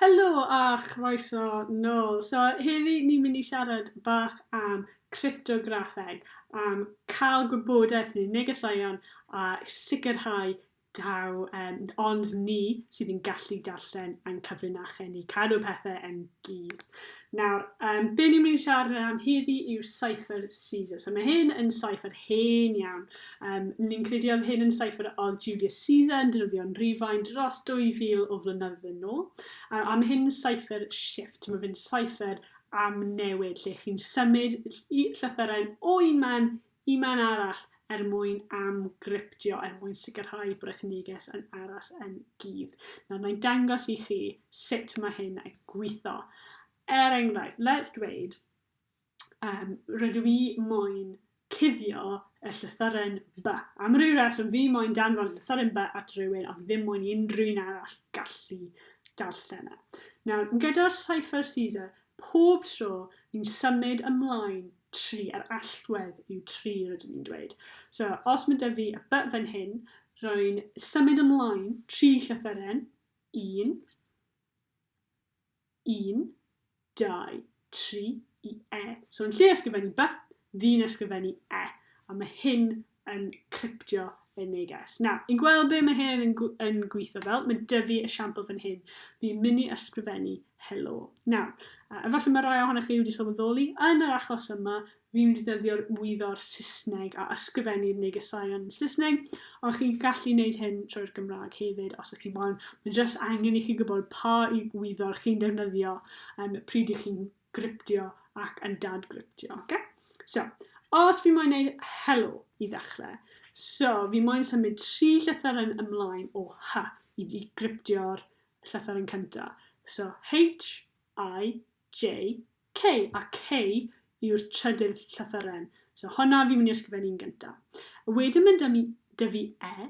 Helo a chroeso nôl. So heddi ni'n mynd i siarad bach am cryptograffeg, am cael gwybodaeth neu negeseuon a sicrhau taw ehm ond ni sydd yn gallu darllen ein cyfrinachau ni, cadw pethe yn glir. Nawr, yym, be' ni'n myn' i siarad am heddi yw cypher Caesar. So ma' hyn yn cypher hen iawn. Yym, ni'n credu odd hyn yn cypher odd Julius Caesar yn defnyddio'n Rhufain dros 2000 o flynyddoedd yn ôl. A, a ma' hyn yn cypher shift, ma' fe'n cypher am newid, lle chi'n symud llythyren o un man Y man arall er mwyn amgryptio, er mwyn sicrhau bod eich neges yn aros yn gudd. Nawr, na i'n dangos i chi sut mae hyn yn gweithio. Er enghraifft, let's dweud, um, rydw i moyn cuddio y llythyren by. Am ryw reswm, fi moyn danfod llythyren by at rhywun, ond ddim moyn i unrhyw un arall gallu darllen e. Nawr, gyda'r Cypher Caesar, Pob tro ni'n symud ymlaen, tri, yr allwedd yw tri rydyn ni'n dweud. So, os mae 'da fi y by fan hyn, rwy'n symud ymlaen tri llythyren, un, un, dau, tri, i e. So yn lle ysgrifennu by, fi'n ysgrifennu e. A mae hyn yn cryptio y neges. Na, i'n gweld be mae hyn yn, yn gweithio fel, mae dyfu esiampl fan hyn. Fi'n mynd i ysgrifennu helo. Na, a efallai mae rai ohonych chi wedi sylweddoli, yn yr achos yma, fi'n mynd i ddyddio'r wyddo'r Saesneg a ysgrifennu'r negesau yn Saesneg, ond chi'n gallu gwneud hyn trwy'r Gymraeg hefyd os ych chi moyn. Mae'n jyst angen i chi gwybod pa wyddo'r chi'n defnyddio um, pryd i chi'n gryptio ac yn dadgryptio. Oce? So, os fi moyn neud helo i ddechrau, so fi moyn symud tri llythyr yn ymlaen o H i, i gryptio'r llythyr yn cynta. So, H, I, J, K. A K yw'r trydydd llythyren. So, honna fi'n mynd i ysgrifennu'n gynta. A wedyn mynd â dy fi E.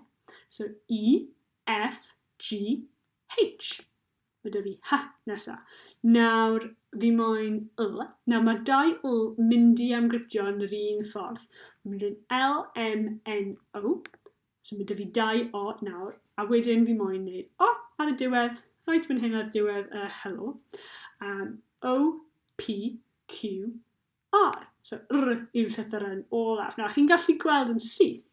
So, E, F, G, H. Mae 'da fi hy nesa. Nawr, fi moyn l. Nawr, mae dau l mynd i amgryptio yn yr un ffordd. Mae'n mynd yn L, M, N, O. So mae 'da fi dau O nawr. A wedyn fi moyn neud O ar y diwedd, right fan hyn ar diwedd y hello. Um, o, P, Q, R, so R yw llythyren olaf. Nawr, chi'n gallu gweld yn syth,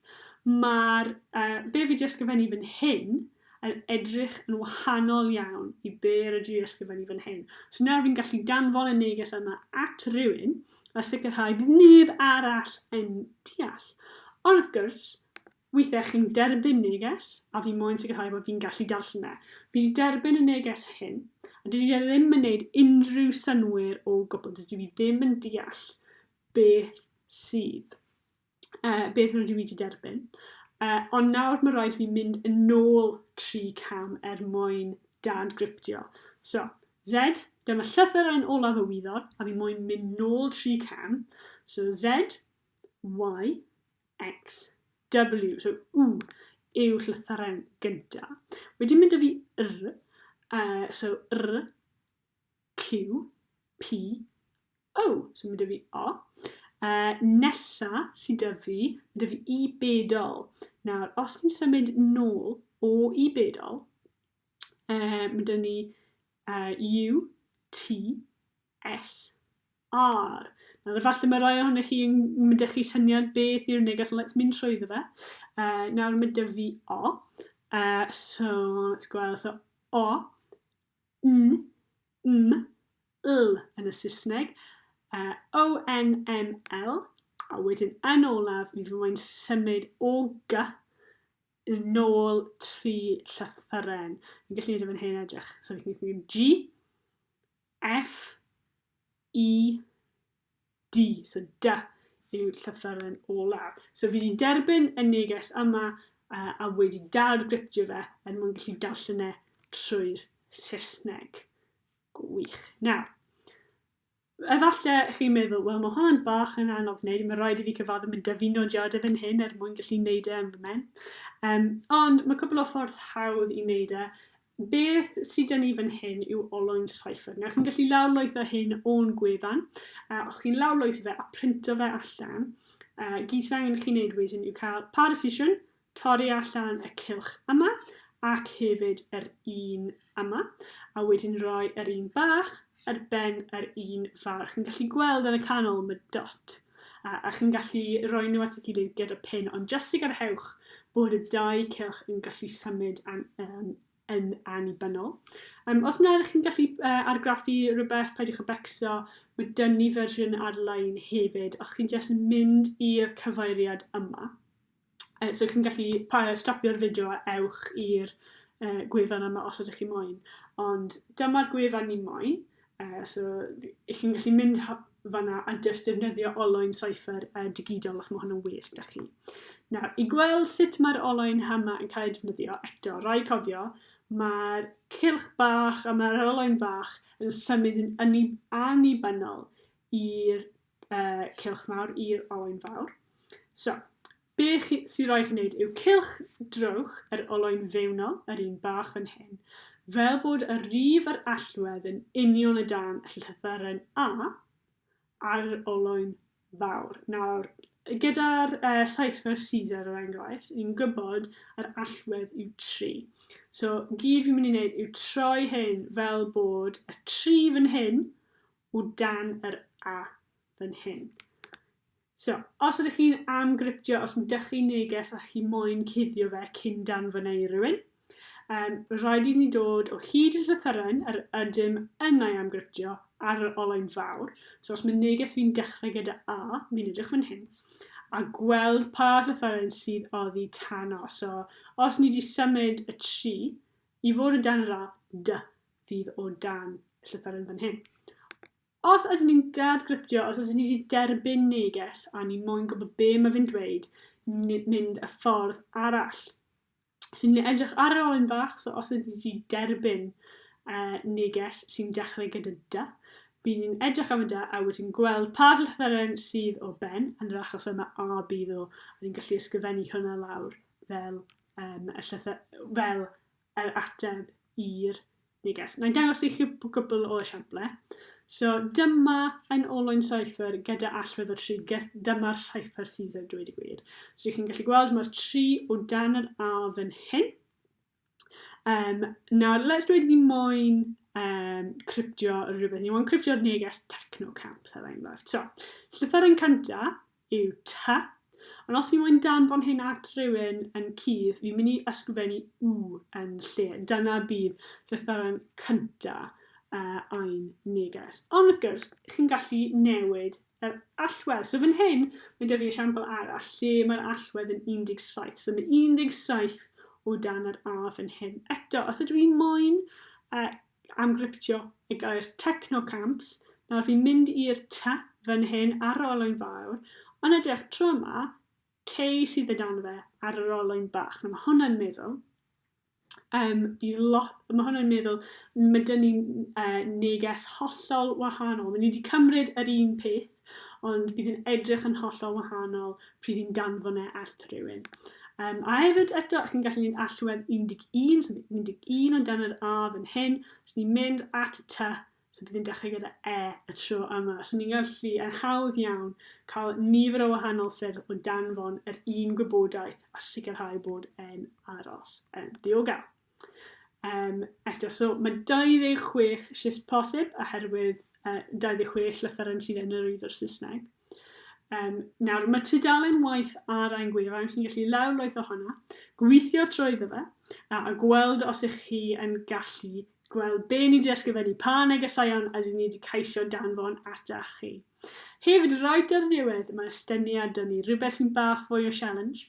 mae'r uh, be fi wedi ysgrifennu fan hyn yn edrych yn wahanol iawn i be rydw i ysgrifennu fan hyn. So nawr fi'n gallu danfon y neges yma at rhywun a sicrhau bod neb arall yn deall. Ond wrth gwrs, Weithiau chi'n derbyn neges a fi moyn sicrhau bod fi'n gallu darllen e. Fi 'di derbyn y neges hyn, a dydy e ddim yn neud unrhyw synnwyr o gwbl. Dydw i ddim yn deall beth sydd, uh, beth rydw i 'di derbyn. Uh, ond nawr mae rhaid fi mynd yn ôl tri cam er mwyn dad griptio. So, Z, dyma llythyr yn olaf y wyddor, a fi moyn mynd nôl tri cam. So Z, Y, XW, so U yw llythyren gynta. Wedyn mynd â fi R, uh, so R, Q, P, O. So mynd â fi O. Uh, nesa sy'n dy fi, mynd â fi i bedol. Nawr, os ni'n symud nôl o i bedol, uh, mynd â ni uh, U, T, SR. Nawr, efallai mae rhai ohonych chi yn mynd â chi syniad beth yw'r neges, ond let's mynd trwy iddo fe. Uh, nawr mae dy fi O. Uh, so, let's gweld. So, O, N, M, L yn y Saesneg. Uh, o, N, M, L. A wedyn yn olaf, mi fy mae'n symud o G yn ôl tri llythyren. Yn gallu gwneud efo'n hen edrych. So, fi'n gwneud G, F, E, D. So dy yw llythyren olaf. So fi wedi derbyn y neges yma uh, a wedi dad-griptio fe er mwyn gallu darllen e trwy'r Saesneg. Gwych. Nawr, Efallai chi'n meddwl, wel mae hwnna'n bach yn anodd wneud, mae rhaid i fi cyfaddu mynd â fi nodiadau fan hyn er mwyn gallu wneud e yn fy mhen. Um, ond mae cwbl o ffordd hawdd i wneud e, Beth sy 'da ni fan hyn yw olwyn cypher. Nawr chi'n gallu lawrlwytho hyn o'n gwefan, a os chi'n lawrlwytho fe a printo fe allan, a gyd sydd angen i chi wneud wedyn yw cael parasition, torri allan y cylch yma, ac hefyd yr un yma, a wedyn rhoi yr un bach ar ben yr un fawr. Chi'n gallu gweld yn y canol mae dot a, a chi'n gallu rhoi nhw at y gilydd gyda pin, ond jyst sicrhewch bod y dau cylch yn gallu symud an, um, yn annibynnol. Um, os na, chi'n gallu uh, argraffu rhywbeth, peidiwch y becso, mae dyn ni fersiwn ar-lein hefyd, os chi'n jyst mynd i'r cyfeiriad yma, Uh, so chi'n gallu stopio'r fideo a ewch i'r uh, gwefan yma os ydych chi moyn. Ond dyma'r gwefan ni moyn. Uh, so ych chi'n gallu mynd fanna a jyst defnyddio oloyn cypher uh, digidol os mae hwnna'n well da chi. Nawr, i gweld sut mae'r oloyn hama yn cael ei defnyddio, eto, rai cofio, mae'r cilch bach a mae'r oloyn bach yn symud yn annibynnol i'r Uh, cylch mawr i'r olwyn fawr. So, be chi, sy'n rhaid chi wneud yw cylch drowch yr olwyn fewnol, yr un bach fan hyn, fel bod y rif yr allwedd yn union y dan llythyren A ar yr olwyn fawr. Nawr, gyda'r uh, cypher Caesar yr er enghraifft, ni'n gwybod yr allwedd yw 3. So, gyd fi'n mynd i wneud yw troi hyn fel bod y 3 fan hyn o dan yr A fan hyn. So, os ydych chi'n am griptio, os ydych chi'n neges a chi moyn cuddio fe cyn danfynu i rywun, um, rhaid i ni dod o hyd i'r llythyren yr ydym yn ei amgriptio ar yr olwyn fawr. So os mae neges fi'n dechrau gyda A, fi'n edrych fan hyn, a gweld pa llythyren sydd oddi tan o. So os ni wedi symud y tri i fod yn dan yr A, dy, fydd o dan y llythyren fan hyn. Os ydyn ni'n dad gryptio, os ydyn ni wedi derbyn neges a ni moyn gwybod be mae fe'n dweud, mynd y ffordd arall. So ni'n edrych ar yr olyn fach, so os ydyn ni derbyn uh, neges sy'n dechrau gyda dy, bydd ni'n edrych am y dy a wedyn gweld pa llythyren sydd o ben, yn yr achos yma a bydd o, a ni'n gallu ysgrifennu hwnna lawr fel, um, y llythyr, fel yr ateb i'r neges. Na'i dangos i chi gwpl o esiample. So, dyma yn olwyn cypher gyda allwedd o 3. Dyma'r cypher Caesar, dweud y gwir. So, chi'n gallu gweld mae'r 3 o dan yr A fan hyn. Um, nawr, let's dweud ni moyn um, cryptio rhywbeth. Ni moyn cryptio'r neges techno camp, er enghraifft. So, llythyr yn cynta, yw tŷ. Ond os fi moyn danfon hyn at rywun yn cudd, fi'n mynd i ysgrifennu u yn lle. Dyna bydd llythyren cynta uh, ein neges. Ond wrth gwrs, chi'n gallu newid yr allwedd. So fan hyn, mae dyfu esiampl arall lle mae'r allwedd yn 17. So mae 17 o dan yr A fan hyn. Eto, os ydw i moyn uh, amgryptio y gair techno camps, nawr fi'n mynd i'r ty fan hyn ar yr olwyn fawr, ond edrych tro yma, cei sydd y dan fe ar yr olwyn bach. Nawr mae hwnna'n meddwl, um, bydd lot, mae hwnna'n meddwl, mae dyn ni'n uh, neges hollol wahanol. Mae ni wedi cymryd yr un peth, ond bydd yn edrych yn hollol wahanol pryd i'n danfon e at rhywun. Um, a hefyd eto, chi'n gallu mynd allwedd 11, so 11 ond dan yr A fan hyn, os ni'n mynd at y T, so bydd yn dechrau gyda E y tro yma. So ni'n gallu yn hawdd iawn cael nifer o wahanol ffyrdd o danfon yr un gwybodaeth a sicrhau bod e'n aros yn ddiogel. Yym, eto, so mae 26 shifft posib oherwydd uh, 26 llythyren sydd yn yr Iddwr Saesneg. Um, nawr, mae tudalen waith ar ein gwefan, chi'n gallu lawr loeth ohono, gweithio trwy iddo fe, a, a gweld os ych chi yn gallu gweld be ni wedi ysgrifennu, pa negeseuon a dyn ni wedi caisio danfon ata chi. Hefyd, rhaid ar y diwedd, mae estyniad dyn ni, rhywbeth sy'n bach fwy o challenge,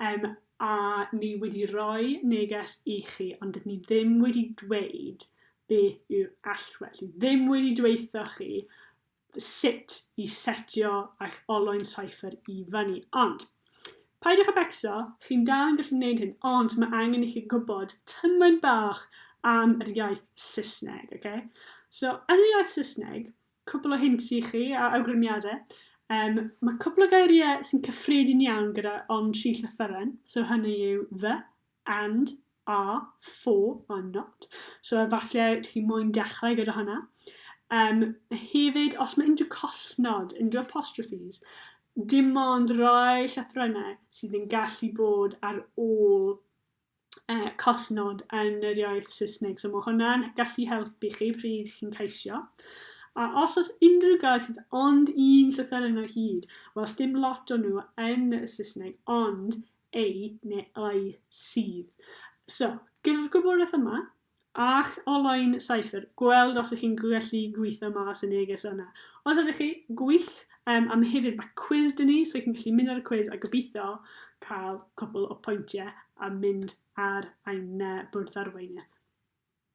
um, a ni wedi roi neges i chi ond dydyn ni ddim wedi dweud beth yw'r allwedd, ni ddim wedi dweitho chi sut i setio eich olwyn cypher i fyny. Ond, paidwch a becso, chi'n dal yn gallu gwneud hyn, ond mae angen i chi gwybod tymain bach am yr iaith Saesneg, okay? So, yn yr iaith Saesneg, Cwpl o hints i chi a awgrymiadau. Um, mae cwpl o geiriau sy'n cyffredin iawn gyda ond tri llythyren. So hynny yw the, and, are, for, or not. So efallai chi moyn dechrau gyda hwnna. Um, hefyd, os mae unrhyw collnod, unrhyw apostrophes, dim ond rhoi llythrennau sydd yn gallu bod ar ôl collnod yn yr iaith Saesneg. So mae hwnna'n gallu helpu chi pryd chi'n caisio. A os oes unrhyw gair sydd ond un llythyren o hyd, wel, sdim lot o nhw yn y Saesneg, ond ei neu ei sydd. So, gyda'r gwybodaeth yma, Ac olau'n saethr. Gweld os ych chi'n gallu gweithio mas y neges yna. Os ydych chi, gwych! Yym, a hefyd mae cwis dyn ni, so ych chi'n gallu mynd ar y cwis a gobeithio cael cwpl o pwyntiau a mynd ar ein bwrdd arweinydd.